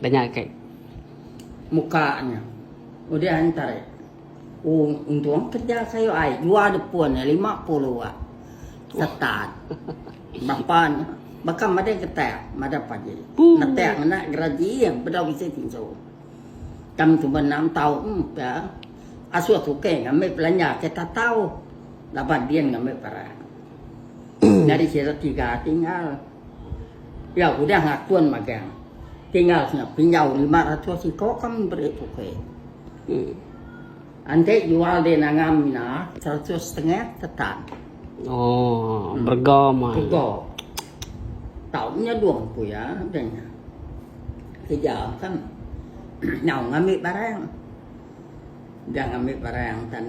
Danya kai. Muka nya. Udah ai entare. Ung Untung kerja sayau ai jua depu nya lima puluh wak setan. Bapa nya baka madai getak madai pagi. Netak ngena geraji bedau bisi tinsu. Tang suba enam taun ke asuh tukang ngambi belanja ke tatau laban din ngambi barang. Nyadi sida tiga tinggal. Iya udah ngakun magang tinggal nya pinjau lima ratus iko ke meri tukui. Enti jual di nangam ina seratus setengah ke tan. Oh, berega mah. Berega. Tau nyedung ku iya deh nya. Kerja kan. Nyau ngambi barang. Dia ngambi barang tan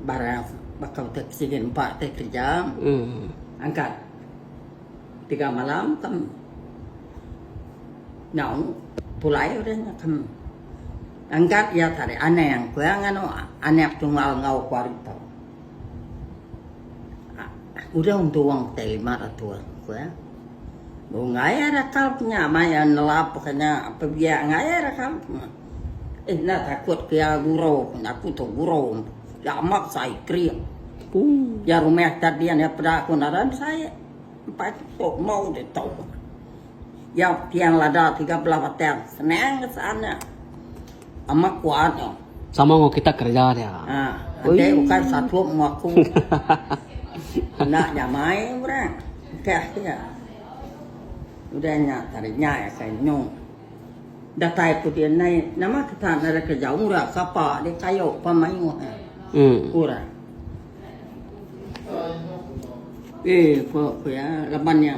barang bakal ke sigi nempa ti kerja. Hmm. Angkat. Tiga malam kam nyau pulai udah nya kam angkat ya tadi anang ku ya nganu anak tunggal ngau ku ari tau. Udah untuang te lima ratus ku ya. Ngaya rakal nya maya nelap kanya pebiak ngaya rakal. Enda takut pia guru pun aku tu guru nya amat sai kering. Iya rumah kat dian iya peda aku naran sai empai tu tok mau ditu. Iya tiang lada tiga belah batang senang ke saan nya. Amat kuat nya. Sama enggau kitak kereja nya. Ha enti ukai satu enggau aku. Enda nyamai orang engkah iya. Udah nya tadi nyai akan nyung. Datai ku dia nai nama kita nara ke jauh ra sapa dia kayo pa mayuh eh ku ra. Eh ku ku iya laban iya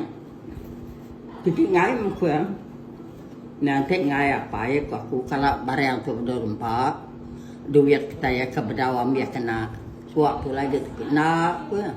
piti ngai meh ku iya. Nya enti ngai apai ku aku kala barang tu bedau rempa duit kitai ka bedau ambi kena. Suak tu lagi ti enda ku iya.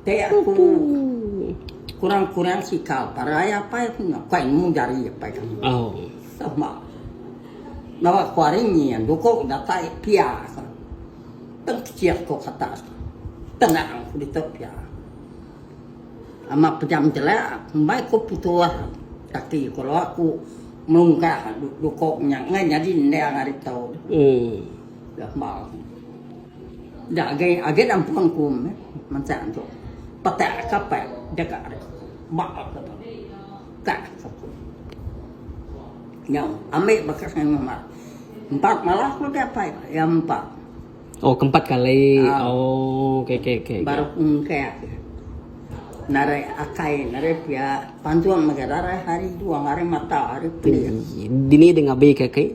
Te aku kurang kurang sikal parai apai aku nya kai nemu jari apai kami. Sama. Nawa ku hari ni duko datai pia ka. Teng kecil ko kata tenang ku ditu pia. Ama pejam jela mbai ko pitulah kaki ko lo aku melungkah duko nya ngai nyadi endang ari tau. Sama. Enda agi agi nampung ku masa tu peka kapal deka ari ba ka kampung. Nyau ambi bekas ngan mama. Empat malah ku dia apai iya empat. Oh ke empat kali. Oh okey okey okey. Baru ku engkak narai akai narai pia pantung mega darai hari dua hari mata hari pia. Dini deh ngabi ka kai.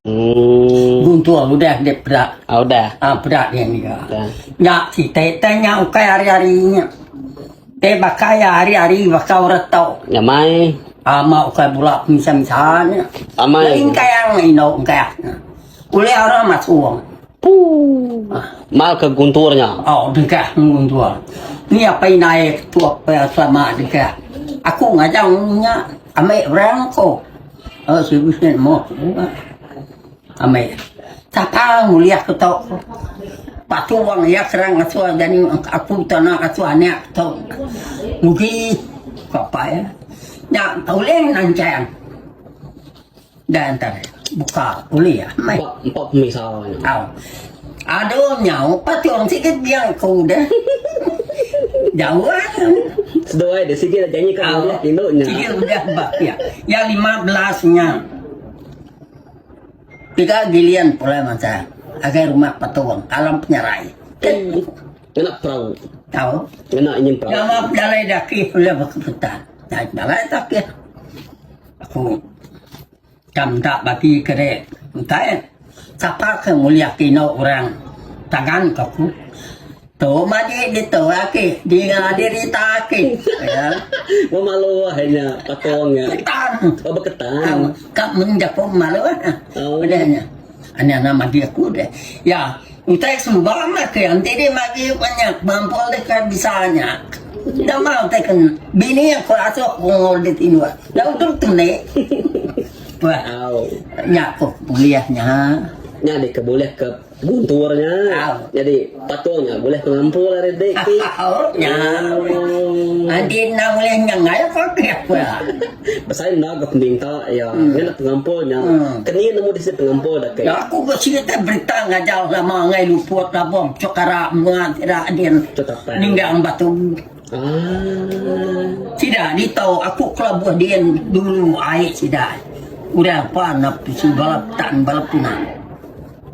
Oh. Gung tua udah dia perak. Ah udah. Ah perak dia ni. Ya. Ya kita tanya ukai hari-hari nya. Te bakai ya hari-hari bakai orang tau. Ya mai. Ama ah, ukai bula misal-misal nya. Amai. Ah, Lain kai ang indo kai. Ule orang masuk. Puh. Ah. Mal ke gunturnya. Oh, dikah guntur. Ni apa yang naik tu apa yang sama dikah. Aku ngajang nya ambil orang kok. Aaa seribu seh moh amai takal mulia ku tau patu wang iya serang ngasu jani aku tana ngasu anak tau mugi ka pai nya ulih nanchang da nta buka ulih amai au. Aduh nyau pati orang sigi dia ko udah. Jauh ah. Seduai dia sigi dah janji ka udah tindu nya. Sigi udah ba ya. Ya 15 nya. Tiga gilian pulai masa. Agai rumah patuang alam penyerai. Kena perau. Tahu. Kena ingin perau. Nama jalai daki pulai berkeputan. Nah, jalai daki. Aku Ka meda bagi ke re entai sapa ke ngulih ke eno orang tangan ka ku tu madi ditu ake dinga dirita ake ya meh malu ahe nya patung nya ketan ka mung jaku malu udah nya. Nya nan magi aku deh. Ya, utai sembang mah ke enti deh magi nya bampol deh ke bisa nya. Dah mah utai ke bini aku asok pengol deh tinduk. Dah udok tu meh. Pah. Au. Nya ko kuliah nya. Nya deh ke bulih ke guntur nya. Au. Jadi patung nya bulih ke ngampol ari deh ti. Au. Nya. Enti enda bulih nya ngayak agi aku. Besai enda ga peminta iya ngena pengampul nya. Kenyie nemu disi pengampul da ke. Aku ga serita berita ngajar ulama enggai luput labuh cuk kara menua sida din ninggang batu. Sida ditau aku kelabuh din dulu ai sida urang pan napi siba tan bala puna.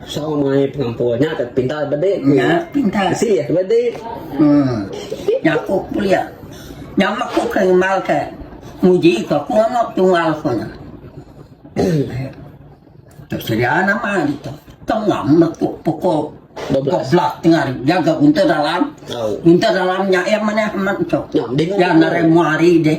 Saw mai pengampun. Nya ka pintar bedi ku iya. Asih bedi. Hmm. Nyaku pulih. Nya mak ku ke ngemal ke. Muji ke aku amat tungal ku nya. Tu sedia nama itu. Tengah metu pukul 12 tengah jaga guntur dalam. Guntur dalam nya yang mana amat tu. Nya mending. Yang nare muari deh.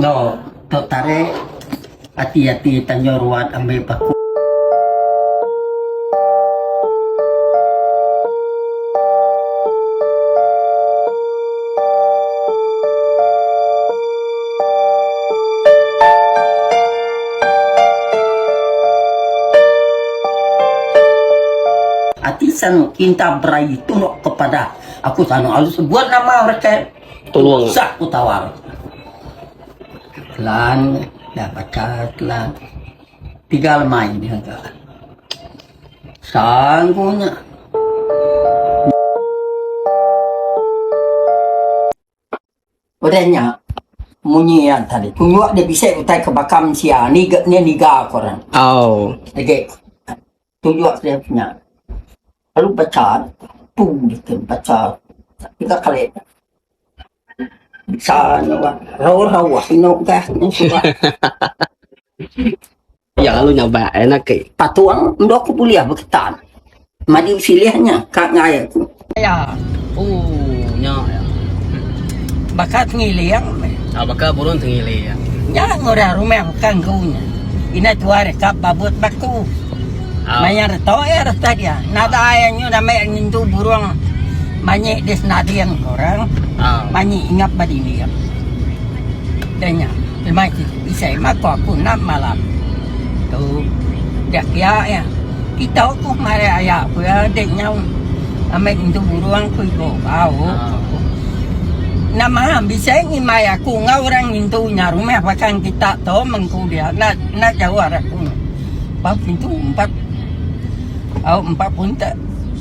No tok tarik ati ati tanjung ruat ambil paku. Ati sanu kinta berai tunok kepada aku sanu alu sebut nama reke. Tulung. Sak ku tawar. Kelan dah baca kelan. Tiga lemai ni haga. Sang ku nya. Udah nya. Munyi yang tadi. Kunyuk dia bisa utai ke bakam sia. Ni, ni niga korang. Oh. Lagi. tunjuk sida punya lalu bacha tu ditu bacha tiga kali bacha nya bah raun raun inu gas nya suah iya lalu nya ba anak ke patung endok ke bulih beketan maju silih nya ka ngair tu. Aya. Ooh nya ya. Baka tengiling meh. Ah baka burung tengiling. Nya ngurang rumah kanggu nya. Ina tua rekap babut baku. Ah. Maya reto ya reta dia. Nada ah. ya nyu ramai ngintu burung manyi di senading orang. Ah. Manyi ingap badinding. Danya. Emai ti isai mako aku enam malam tu dak pia iya kitok ku marai aya ku iya dek nyau amai entu burong ku igo bau ku enam malam bisai ngimai aku enggau orang ngintu nya rumah bakang kita tu men ku dia enda enda jauh ari aku bau pintu empat bau empat buntek.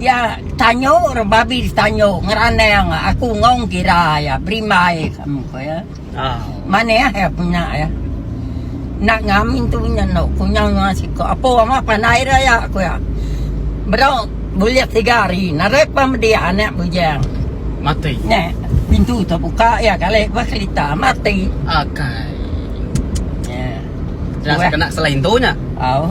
Iya tanyo re babi ditanyo ngeranang aku ngong gira iya berimbai kamu ko iya. Manah iya punya iya. Enda ngamin tu punya endo kunyang nya siko apo ama pandai re iya ko iya. Bro bulik tiga hari narit ba medi anak bujang. Mati. Nya pintu tu buka iya kali ba kerita mati. Akai. Nya. Dah kena selai intu nya. Au.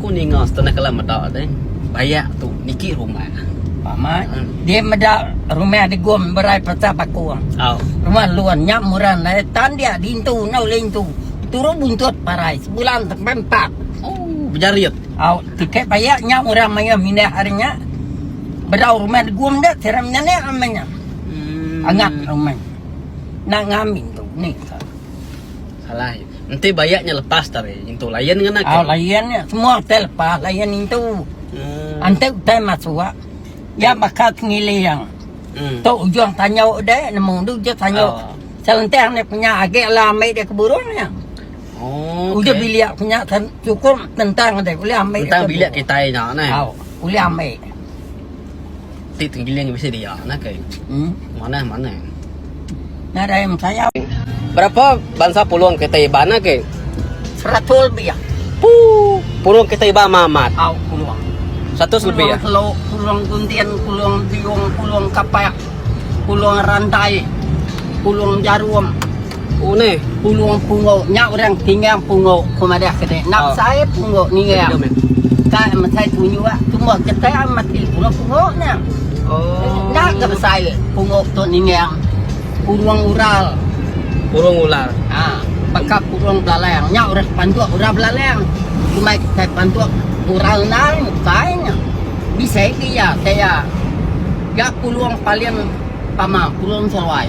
Ku ninga setengah kala meda deh bayak tu niki rumah. Pamai. Hmm. Dia meda rumah degum berai pasal bakung. Au. Rumah luan nya muran ai tandia dintu enggau lintu. Turu buntut parai sebulan sampai empat. Oh, bejarit. Au, tiket bayak nya orang mayuh mindah hari nya. Bedau rumah degum dah sira menyanak amanya. Hmm. Angap rumah. Nak ngamin tu ni. Alai. Enti bayak nya lepas tah ari intu layan ngena ke. Au layan nya semua utai lepas layan intu. Hmm. Enti utai masuk ya baka sengiling. Hmm. Tu ujung tanyau deh nemu tu ujung tanyau. Oh. Selentang ni punya agi ala ambil dia ke burung nya. Oh. Okay. Ujung bilik punya cukup tentang deh boleh ambil. Tentang bilik kita nya neh. Au. Boleh ambil. Ti tenggiling bisi dia nah ke. Manah manah. Nadai mesayau. Berapa bansa pulung kitai Iban nah ke? Seratus lebih. Puuh. Pulung kitai Iban mah amat. Au pulung. Seratus lebih ah. Pulung Telok, pulung Gundin, pulung Biung, pulung Kapak, pulung Randai, pulung Jarum. Uneh. Pulung pungu nya urang tinggang pungu ku madah ke deh. Nap sai pungu ningang. Ka mesai tunyu ah tumbuh ketai ah mati pulung pungu nya. Enda ke besai pungu tu ningang. Pulung ural. Pulung ural. Ha. Baka pulung belalang. Nya urang ke pantuk ural belalang. Kumai kitai pantuk ural endar nya besai nya. Bisi ke iya. Taya ga pulung paling tama pulung seruai.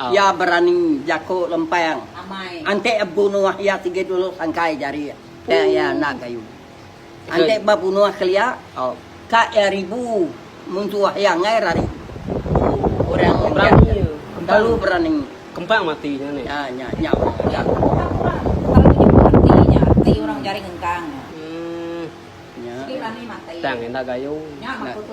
Iya berani jako lempang antek bunuh iya tige dulu sangkai jari tang iya enda gayu. Antek ba bunuh kelia ka iya ribu mun tuah iya enggai rari orang ngan dia nya. Terlalu berani. Kempang mati nya ni. Ah nya nya orang enggang. Nya. Tang enda gayu. Enda gayu.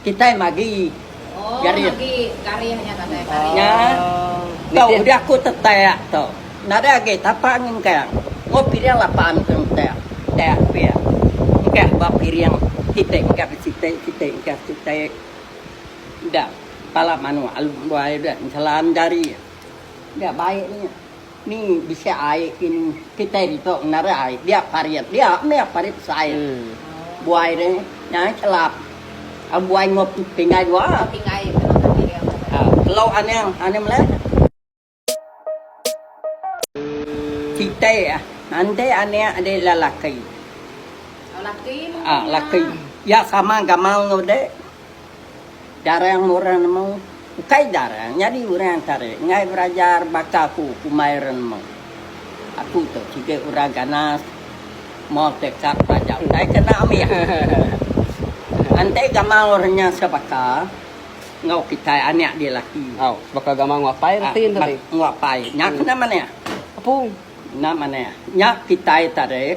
Kitai magi garis. Nya tu udah aku tetak tu. Nadai agi tapa ngengkang. Enggau piring lapan ke entek. Tek pia. Engkah ba piring siti engkah ba siti, siti engkah siti. Enda. Pala manuk alu buai udah enselan jari. Enda baik nya. Ni bisi ai kini kitai ditu ngenara ai dia parit dia meh parit besai buai deh nya kelap buai ngop tinggai dua kelo aneng aneng meleh kitai enti anek adi lelaki laki iya sama gamal ngau dek. Darang meh orang nemu. Ukai darang nyadi orang tare enggai berajar baka aku kumbai orang nemu. Aku tu kiga orang ganas moh ke kad pelajar utai ke enda ambi aku. Antai gamal orang nya sebaka enggau kitai anak dia laki. Au, sebaka gamal enggau apai reti enda deh. Enggau apai. Nya kena manah. Apung. Enda manah. Nya kitai tare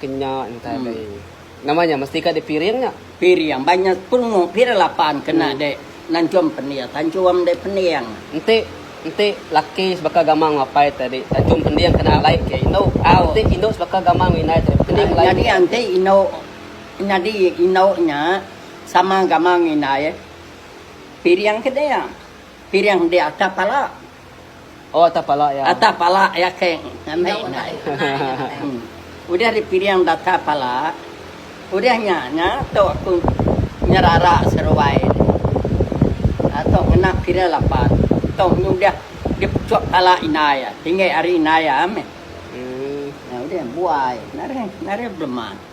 Ke nya entai alai. Nama nya mesti ka di piring nya. Piring ba nya tungu pira lapan kena di nanchum pending tanchum di pending. Enti enti laki sebaka gamak enggau apai tadi tanchum pending kena alai ke indu. Enti indu sebaka gamak enggau indai tadi pending alai ke. Nyadi enti indu nyadi indu nya sama gamak enggau indai piring ke dia. Piring dia atap pala. Atak pala iya keng ngandai indai. Udah dipiring data pala, udah nya nya tu aku nyerara seruai nya. Tu ngena piring lapan, tu nya udah dipechup pala indai iya, tinggi ari indai iya meh. Udah buai nari nari belema.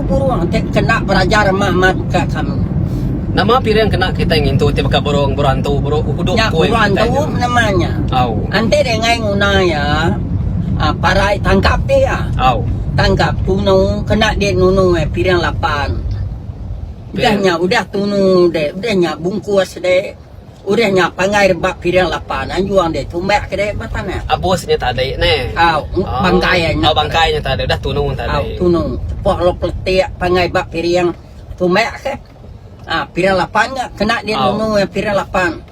Burung ti kena beraja remah mat ka kami. Nama piring kena kitai ngintu ti baka burung, burung antu, burung uhudup Nya kuai burung kitai antu nya. nama nya. Au. Enti deh ngai nguna iya aaa parai tangkap deh iya. Au. Tangkap tunu kena deh nunu eh piring lapan. Udah nya udah tunu deh udah nya bungkus deh. Udah nya pangai rebak piring lapan anjung deh tumbak ke deh ba tanah. Abus nya tadi neh. Au, bangkai nya tadi. Oh, bangkai nya tadi udah tunu tadi. Au, tunu. Tepuk lalu peletik pangai ba piring tumbak ke. Ha, piring lapan nya kena dia nunu piring lapan.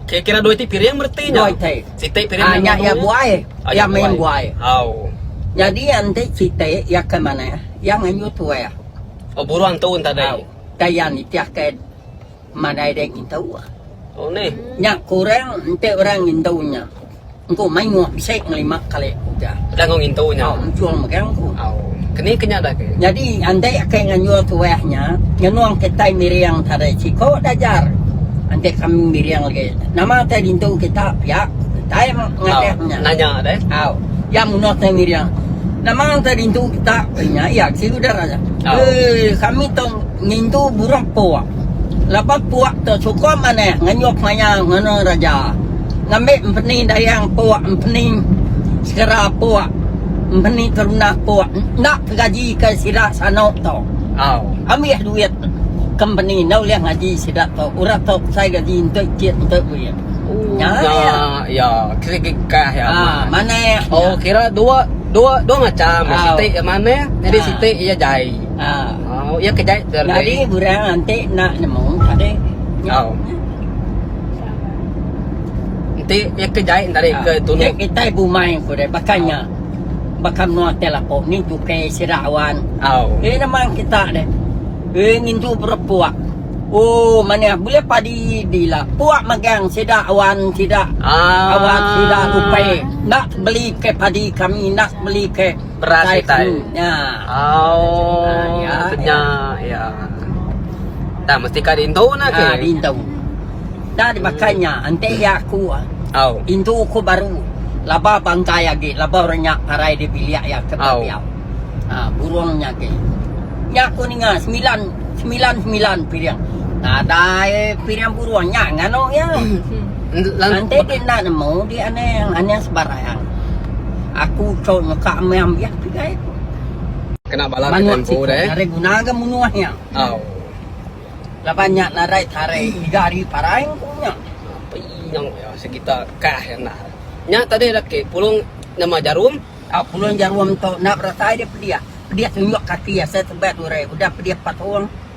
Kira-kira dua iti piring bereti nya. Dua iti. Siti piring nunu. Ha, nya iya buai. Iya main buai. Au. Jadi iya enti siti iya ke manah, iya ngayuh tuai. Oh, buruh antu tadi. Au. Tayang nitih ke. Madai deh kitu. Nya kurang enti orang ngintu nya. Engku mayuh bisi ngelima kali ku ja. Tau enchul mega engku. Nyadi enti ake nganjur tuah nya ngenung kitai miring tadi siko dajar enti kami miring lagi nama te dintu kita pia ku kitai ngadap nya. Au iya munah te miring nama te dintu kita ku nya iya kiu deh. Ui kami tong. Ngintu buruk puk. Lebuh puk tu sukup manah ngenyup maya ngena raja. Ngambi empeni dayang puk, empeni sekera puk, empeni kerundah puk enda ke gaji ke sida sanu tu. Ambih duit kempeni enda ulih ngaji sida tu. Orang tu besai gaji enti kit enti duit. Nya iya. Manah nya. Ah. Oh, iya ke jai tu Ardi? Nyadi orang enti enda nemu tadi. Oh. Enti iya ke jai tadi ah. ke tunu. Nek kita ibu main ku dia bakanya. Oh. Bakam nuan teh lapo ni juke sira awan. Oh. Eh nama kita deh. Eh ngintu berpuak. Oh, mana boleh padi dila. Puak magang sida awan sida. Ah. Awan sida upai. Nak beli ke padi kami nak beli ke. Beras Beras utai. utai. Nya. Oh, ya, nya ya. Dah mesti ka dintu nah ke. Ah, dintu. Dah dimakan nya, enti ya aku. Au. Intu ku baru. Laba bangkai agi, laba orang nya parai di bilik ya ke biak. Ah, burung nya agi. Nya ku ninga semilan, semilan semilan piring. Nadai piring burung nya nganu ya. Enti di enda nemu di anang anang sebarang. Aku chou nyeka meh ambih pigai ku. Manuk siko narai guna ga munuh nya. Laban nya narai tarai tiga ari parai ku nya. Nya tadi ida ke pulung nama jarum. Pulung jarum tu enda beratai dia pedih. Pedih tunjuk kaki asai tebal durai udah pedih patung.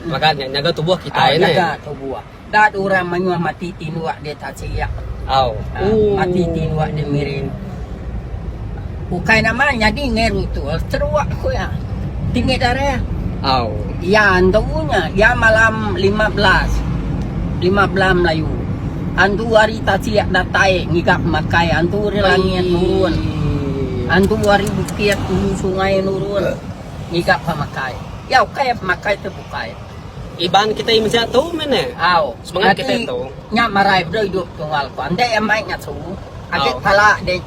Mega nya nyaga tubuh kitai neh. Nyaga tubuh. Da tu orang mayuh mati tinduk dia tak silik. Mati tinduk dia miring. Ukai nama nyadi ngai rutus teruk ku iya. Tinggi darah. Iya antu nya iya malam lima belas. Lima belas melayu. Antu ari tasik datai ngiga makai antu ari langit nurun. Antu ari bukit hulu sungai nurun. Ngiga pemakai. Iya ukai ya pemakai tu bukai. Iban kitai mensia tu meh ne. Au. Semengat kitai tu. Nya marai bela idup tunggal ko. Enda iya mai ngatu. Agi pala deh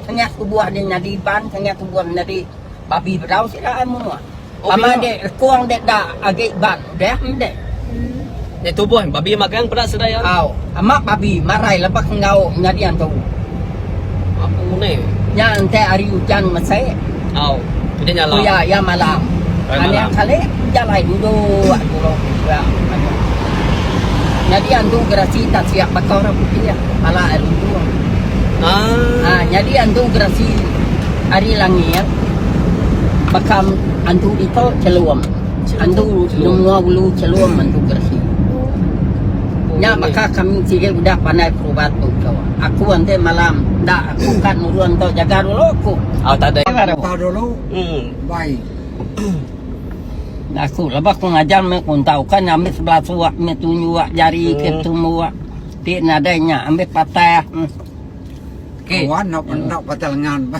tengah tubuh deh nyadi iban tengah tubuh nyadi babi bedau sida ai menua. Sama deh lekong deh da agi iban. Deh endek. Deh tubuh babi magang peda sedai ya. Au. Amak babi marai lepak enggau nyadi antu. Aku ne. Nya ente ari ujan mesek. Au. Ujan nya alam. Kuya iya malam. Kuya malam. Anek kale jalai duduk dulu kuya antu. Nyadi antu gerasi tak siap bakau ra putih ya. Pala air untung. Ah. Ah, nyadi antu gerasi ari langit. Bakam antu ito celum. Andu Lung Lua Ulu Chelum antu Gersi. Nya baka kami sigi udah pandai perubat tu ko. Aku enti malam enda aku ka nurun tau jaga dulu ko. Au tada ila dau. Tau dulu. Em. Bai. Enda aku lebuh aku ngajar meh aku ntau ka nya ambi sebelah suak meh tunju ak jari ke tumbu ak ti nadai nya ambi patah. Ke. Wan enda patah lengan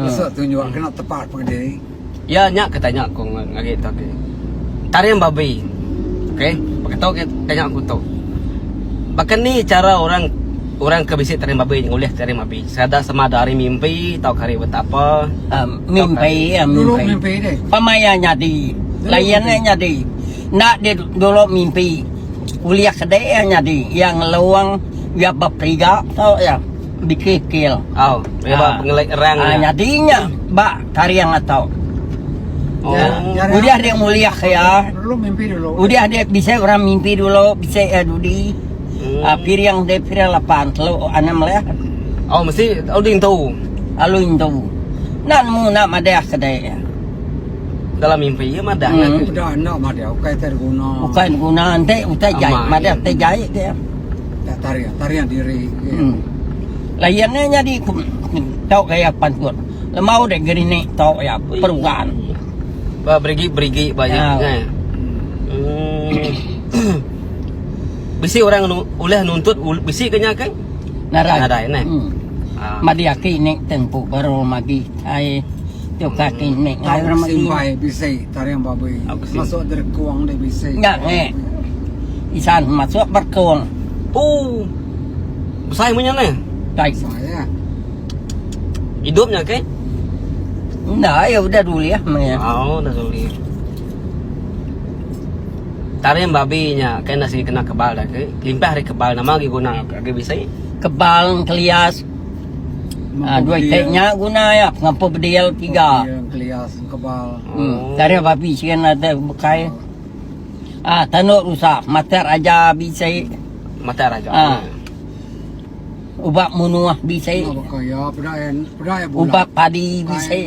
lesu tunju ak kena tepa pengediri. Iya nya ke tanya aku ngagai tu agi. Taring babi. Okey, baka tu ke tanya aku tu. Baka ni chara orang orang ke bisi taring babi ngulih taring babi sekadar sama ada hari mimpi tauka hari buta apa. Um, mimpi ya mimpi. mimpi deh. Pemaya nyadi. Layan nya nyadi. Nda di dulu mimpi. Kuliah kede ya nyadi. Ya ngeluang ya beperiga tu ya. Bikil-kil. Oh, ya uh, pengelik rang. Uh, nyadi nya ba Taring ato. Oh, udah dia mulia ya. Dulu mimpi dulu. Udah dia bisa orang mimpi dulu, bisa ya dudi. Hmm. Uh, piring dia piring lapan, telu enam lah. Oh, mesti alu intu. Alu intu. Nak mu nak madah kedai ya. Dalam mimpi ya madah hmm. lagi. Udah nak madah, bukan terguna. Bukan guna, ente utai jai. Madah te jai ke ya. Tarian, tarian diri. Hmm. Layannya jadi tau kayak pantun. Lembau deh gerinik to ya peruan. Ba berigi berigi ba ya. Kan. Bisi orang nu, uleh nuntut bisi ke nya ke? Narai. Narai ne. Hmm. Ah. Madi aki ni tempu baru magi ai tu kaki ni. Ai orang magi. Simbai bisi taring babi. Masuk derkong deh bisi. Nya nge. Isan masuk berkong. Oh. Besai menya ne. Dai. Besai ya. Hidup nya ke? Enda, ya udah duli ah maya. Oh, dah duli. Tarim babi nya ke enda sigi kena kebal dah ke. Kelimpah hari kebal nama lagi guna agi bisi? Kebal kelias. Ah, dua itik nya guna ya pengampu bedil tiga. Kelias kebal. Hmm. Oh. Tarim babi sigi enda ada bekai. Ah, tanduk rusak, matak raja bisi. Matak raja. Ah. Ubat munuah bisi. Ubat baka ya peda ya peda ya bulan. Ubat padi bisi.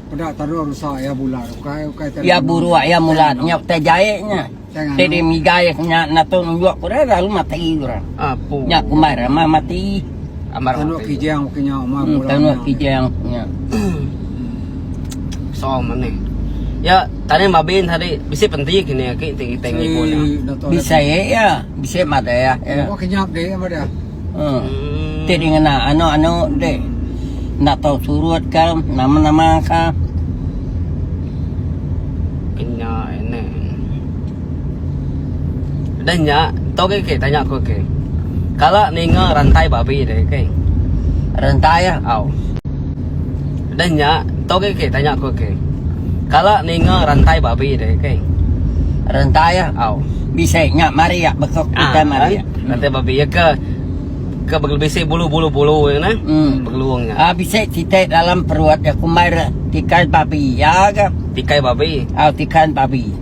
Peda taruh rusak ya bulan. Ukai ukai taruh. Ya buru ya mulat nya utai jai nya. Tadi migai nya natun njuk pura lalu mati pura. Apu. Nya kumai ramah mati. Amar mati. Tanuk kijang punya umah hmm, bulan. Tanuk kijang punya. So meneh. Ya, tadi mabin tadi bisi penting kini aki tinggi tinggi pun. Bisa ya. Bisi amat deh ya. Ya. Kau kenyap deh ya pada. Hmm. Ti di ngena anu-anu deh. Nak tahu surut ke nama-nama ke. Kenya ini. Dan ya, tau ke ke tanya aku ke. Kalau ninga rantai babi deh ke. Rantai ya. Au. Dan nya ento gih ke tanya ku ke. Kala ninga rantai babi deh ke. Rantai ya au. Bisi nya mari ya bekok utai mari ya. Rantai babi ya ke ke begi bisi bulu bulu bulu ya nah. Hmm. Begelung ya. Ah bisi titik dalam perut ya kumbai re tikai babi ya ke. Tikai babi. Au tikai babi.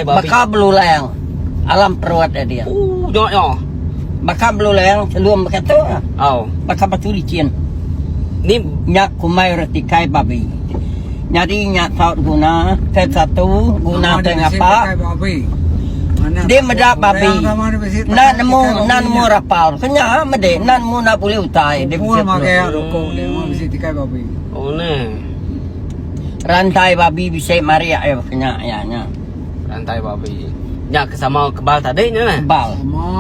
Baka belulang alam perut nya dia. Baka belulang chelum baka tu. Baka batu lichin. Nya kumbai orang tikai babi. Nyadi nya tau diguna ke satu guna ke ngapa. Dia meda babi enda nemu enda nemu rapal ke nya meda enda nemu enda bulih utai dia bisi peluru. Oh neh. Rantai babi bisi marik ai baka nya iya nya. Rantai babi. Nya ke sama kebal tadi nya nah. Kebal. Sama.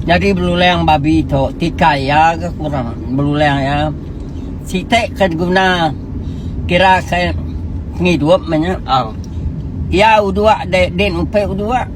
Jadi belulang babi tu tikai iya ke kurang belulang iya. Siti ke diguna kira ke pengidup nya. Oh. Iya uduk dek din upi uduk.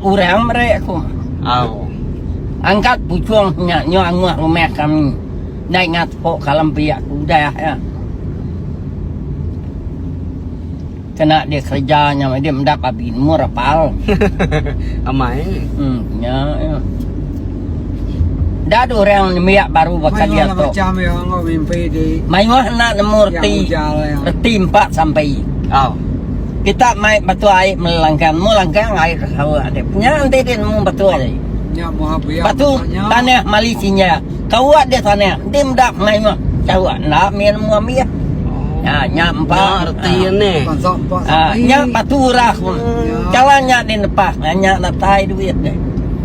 Orang meri aku. Au. Angkat puchung nya nyau angoh rumah kami. Nai ngatuk ka alam pia ke udah ya. Kena dia kereja nya meh dia meda babi nemu rapal. Amai. Hmm nya ya. Enda ada orang nembiak baru baka dia tu. Mayuh enda nemu reti. Reti empat sampai. Au. Kita mai batu ai melangkang, mu langkang ai hawa ade. Nya enti dia nemu batu ai. Batu tanah mali sinya. Kawa dia tanah, dia meda mayuh kawa enda mih nemu ambih. Ha nya empat. Nya reti ni. Ha nya batu urah. Kala nya di nepah, nya datai duit dia.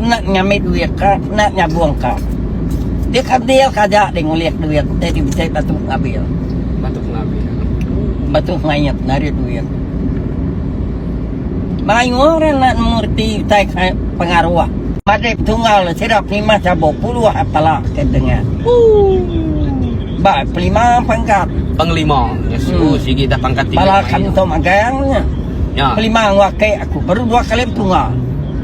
Enda ngambi duit ka enda nyabung ka. Dia ka deal ka aja deh ngulih duit utai ti bisi batu ngabil. Batu ngabil. Batu mayat ngabil duit. Mayuh orang enda nemu reti utai ka pengaruh. Madip tunggal le sida penimah chabuk puluh a pala ke tengah. Ooh. Ba pelima pangkat. Pengelima. Yes. Hmm. Oh, sigi dah pangkat tinggi. Pala kanto magang nya. Ya. Pelima ngua ke aku baru dua kali tunggal.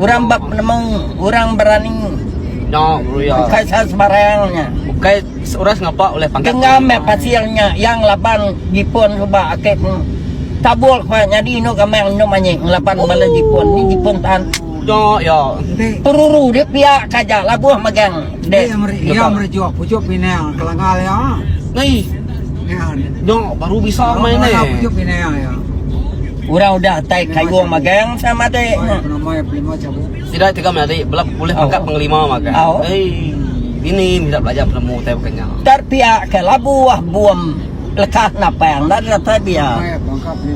Orang ba penemu, orang berani. No, Ruyo. Bukai sa sebarang nya. Bukai seorang ngapa oleh pangkat. Tengah me pasir nya yang laban Jepun suba akik pun. Tabul kwa nyadi inu kami anu manyi ngelaban oh. bala Jepun. Ni Jepun tan. No, yo. Peruru dia pia kaja labuh megang. Dia yang meri, yang meri jual pujuk pinang kelangal ya. Ni. Ni. No, baru bisa main ni. Pujuk pinang ya. Orang udah atai kayung magang sa matik nya. Sida tega menyadi bela pulih pangkat pengelima magang. Ei, bini meda belajar penemu utai baka nya. Tar pia ke labu ah bum lekat napang enda deka tai pia.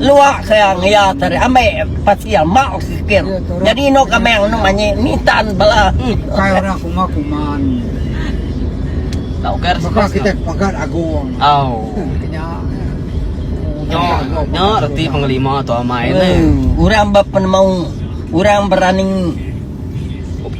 Luak ke ang iya tari ambi pasil mau sikit. Nyadi inu kamang inu manyi nintan bala. Ukai orang kuma kuman. Tau ke ari sukah. Pagat agung. Au. Nya nya reti pengelima tu amai ne. Hmm, orang ba penemu orang berani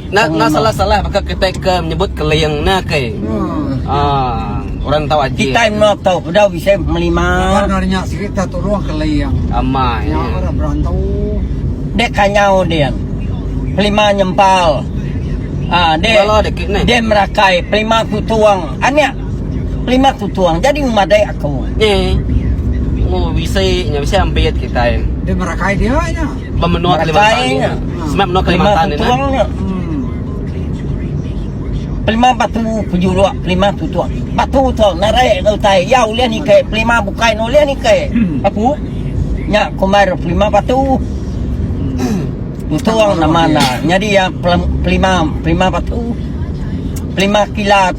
Nak nak salah-salah baka kitai ke nyebut keling ne ke. Hmm. Ah, orang tau aji. Kita no tau pedau bisa melima. Orang nya sikit tak turun keling. Amai. Nya orang berantau. Dek kanyau dia. Pelima nyempal. Ah, dek. Kalau dek ni. Dek merakai pelima kutuang. Anak Lima kutuang jadi memadai aku. Nya. Mu bisi nya bisi ambit kitai. Di Merakai dia nya. Bemenua Kalimantan nya. Semak menua Kalimantan ni. Lima kutuang nya. Pelima batu pejuruk, pelima kutuang. Batu tu narai ke utai. Ya ulih ni ke pelima bukai ni ulih ni ke. Aku. Nya kumar pelima batu. Kutuang nama na. Jadi ya pelima pelima batu. Pelima kilat.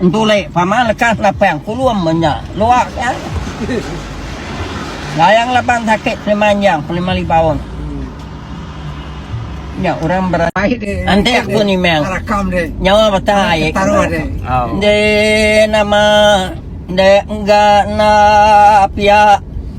Entu leh pama lekas napang pulum menya luak nya. Layang laban sakit pemanjang pelima lima taun. Nya urang berencana entek pun imang nyawa beta ai enda nama enda engga enda piak.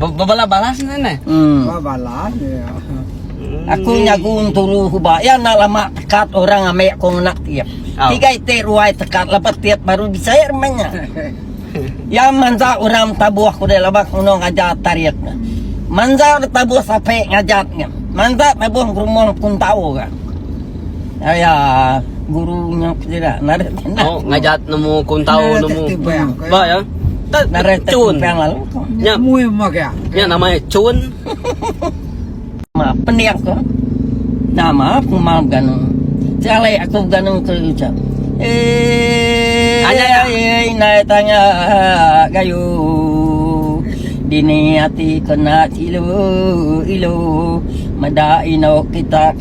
Bebala balas ne ne. Hmm. Ba balas ya. Aku hmm. nyagu turu huba ya nak lama tekat orang ame aku ngenak tiap. Oh. Tiga ite ruai tekat lepas tiap baru disair menya. ya manza orang tabuh aku dah labak ngono ngajar tarik. Manza tabuh sape ngajar ni. Manza tabuh rumah pun tahu kan. Aya guru nya sida narit kena. Oh, ngajat nemu kuntau nah, nemu. Ba ya. Narit cun. Nya mui mak ya. Nya nama ya cun. Ma pendiak ko. Nama pemal ganu. Jale aku ganu tu ucap. Eh, anya ya. Eh, nai tanya gayu. Dini ati kena ilu ilu. Meda ino kita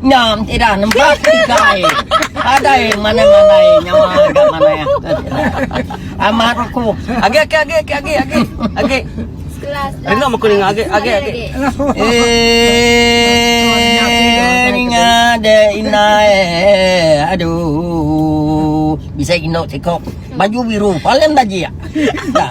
Nya enti dah nembak kitai. Adai manai-manai nyawa ga manai ah. Amat aku. Agi agi agi agi agi agi. Agi. Rindu aku ninga agi agi agi. Eh ninga de ina eh. Aduh. Bisa inok sikok. Baju biru paling bajik. Dah.